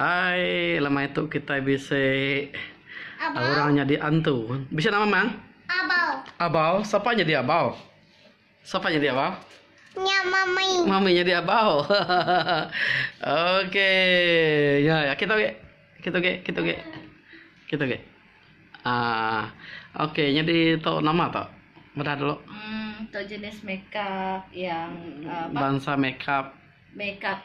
Hai lemai tu kitai bisi orang nyadi antu. Bisi nama mang? Abau. Abau sapa nyadi abau? Sapa nyadi abau? Nya mami. Mami nyadi abau. Okey. Ya ya kita okey. Kita okey, kita okey. Kita okey. Ah, okey nyadi tu nama tu. Medah dulu. Hmm, tu jenis makeup yang uh, bansa makeup. Makeup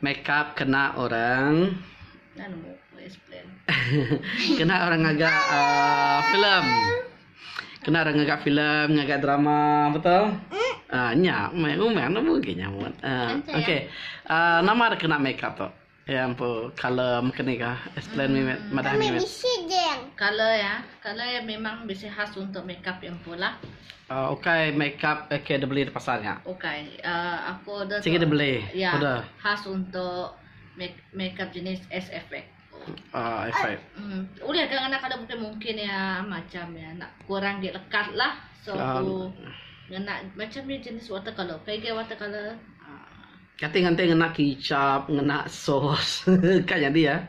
Makeup kena orang kena orang ngaga uh, filem. Kena orang ngaga filem, ngaga drama, betul? Ah, nya mai umang nak bugi nyamut. Ah, okey. Ah, nama ada kena makeup tu? Ya ampun, color mekeni kah? Explain mimit, madah mimit. Color ya. Colour iya memang bisi khas untuk makeup iya empu lah. Ukai makeup ke dibeli di pasar nya. Ukai. Aku order tu. Sigi dibeli. Iya. Order. Khas untuk makeup jenis SFX. SFX. Ulih ga ngena colour mungkin mungkin iya macam iya enda kurang agi lekat lah. So aku ngena macam ni jenis watercolour. Ukai agi watercolour. Kati nganti ngena kicap, ngena sos. Ka nyadi iya.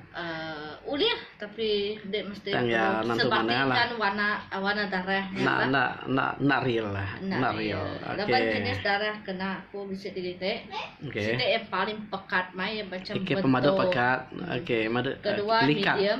Ulih tapi dek mesti perlu sebatikan warna warna darah nya bah. Enda enda enda real lah. Enda real. Laban jenis darah kena aku bisi ti dek. Siti yang paling pekat mai iya macam bentuk. Ikit pemadu pekat. Okey madu likat. Kedua medium.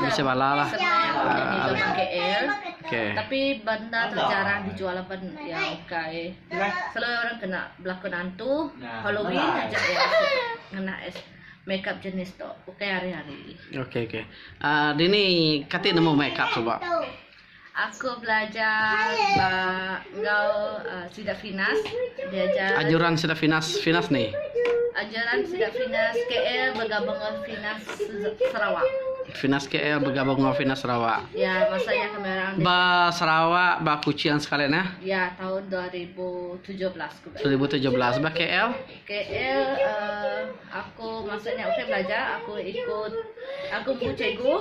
Bisi bala lah. Tapi benda tu jarang dijual laban iya ukai selalu orang kena belakon hantu Halloween aja orang ngena makeup jenis tu ukai hari-hari. Dini kati nemu makeup suba? Aku belajar ba enggau sida Finas diajar. Ajuran sida Finas Finas ni. Ajuran sida Finas KL begabung enggau Finas Sarawak. Finas KL begabung enggau Finas Sarawak. Ya, masa nya kami orang di Ba Sarawak, ba Kuching sekali nah. Ya, tahun 2017 ku ba. 2017 ba KL. KL uh, aku masa nya ukai belajar, aku ikut aku bu cikgu.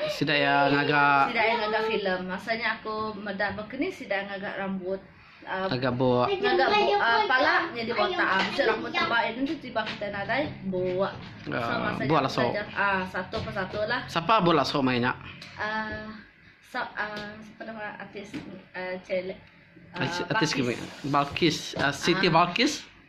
Sida iya ngaga. Sida iya ngaga filem. Masa nya aku meda bakni sida ngaga rambut. Ngaga buk. Ngaga buk pala nyadi botak. Bisi rambut tebal inu tu tiba kitai nadai buk. So masa buk laso. Ah satu persatu lah. Sapa buk laso mai nya? Uh, sap uh, sapa nama artis uh, Artis Balkis. Balkis. Uh, Siti uh, Balkis.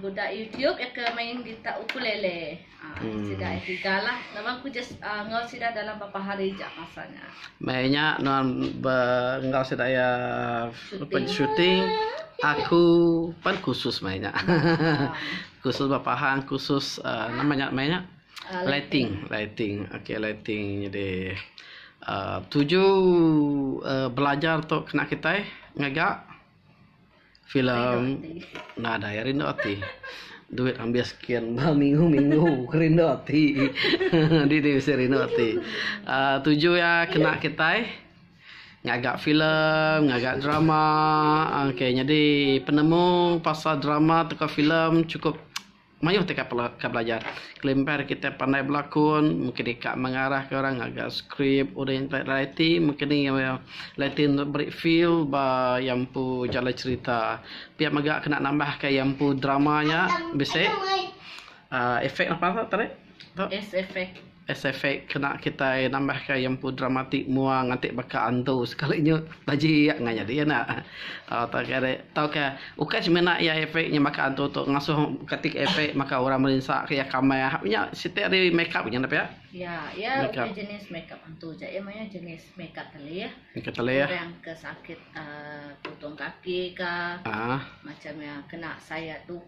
Budak YouTube iya ke main gitar ukulele. Sida iya tiga lah. Laban aku just enggau sida dalam bapa hari aja masa nya. Meh nya nuan be enggau sida iya pen shooting aku pan khusus meh nya. khusus ba pahan khusus nama nya meh nya lighting lighting okay lighting jadi tuju belajar tu kena kitai ngaga. Filem nadai rindu ati. Duit ambis skin ba minggu minggu ke rindu ati. Adi nih bisi rindu ati. aaa tuju iya kena kitai ngaga filem ngaga drama aaa okay nyadi penemu pasal drama tauka filem chukup Mayuh teka pela ka belajar. Kelimbar kitai pandai belakun, mungkin deka mengarah ka orang ngaga skrip udah intai reti mungkin ni iya reti enda beri feel ba iya empu jalai cerita. Pia mega kena nambah ka iya empu drama nya bisi aaa efek apai tadi tu. Effect. Sfx kena kitai nambahka iya empu dramatik mua nganti baka antu sekali nyu taji iya ngah nyadi enda tauka ri tauka ukai semina iya efek nya baka antu tu ngasuh katik efek maka orang merinsa ke iya kamah nya siti ari makeup nya enda pia. Iya, iya ukai jenis makeup antu ja. Iya mayuh jenis makeup telih. Makeup telih. Orang ke sakit uhh putung kaki ka. Uhh. Macam iya kena sayat tu.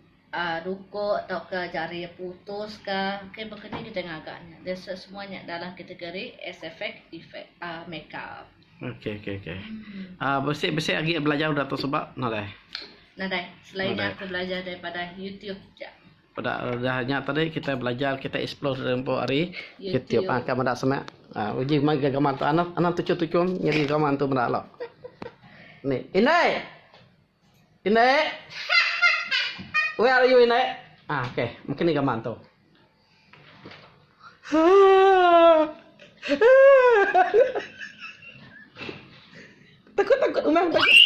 Ruko tauka jari putus ka ke bekeni kitai ngaga nya dia semua nya dalam kategori sfx effect makeup. Okey okey okey. Uhh bisi bisi agi belajar udah tu suba nadai? Nadai selain nya aku belajar daripada youtube ja. Peda udah nya tadi kitai belajar kitai explore dulu empu ari youtube uhh ka meda seme uhh uji mega gaman tu anang anang tuchum tuchum nyadi gaman tu meda lo. Ni indai. Indik. Where are you indik. Ah okay mungkin ni gaman tu. Takut takut umang takut.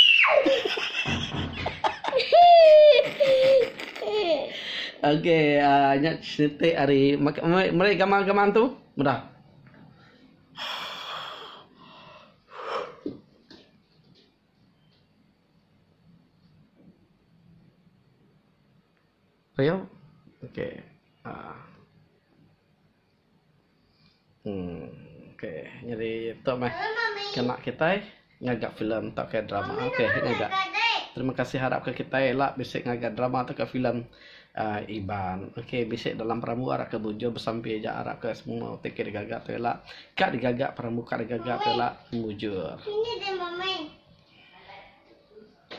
Okay ah nya siti ari meri gaman gaman tu meda. Ayo. Okey. Ah. Hmm. Okey. Nyadi tok meh kena kitai ngaga filem tauka drama. Okey. Ngaga. Terima kasih harap ke kitai ela bisi ngaga drama tauka filem Iban. Okey bisi dalam perambu arap ke bujur besampi aja arap ke semua ti ke digaga tu ila ka digaga perambu ka digaga tu ila mujur.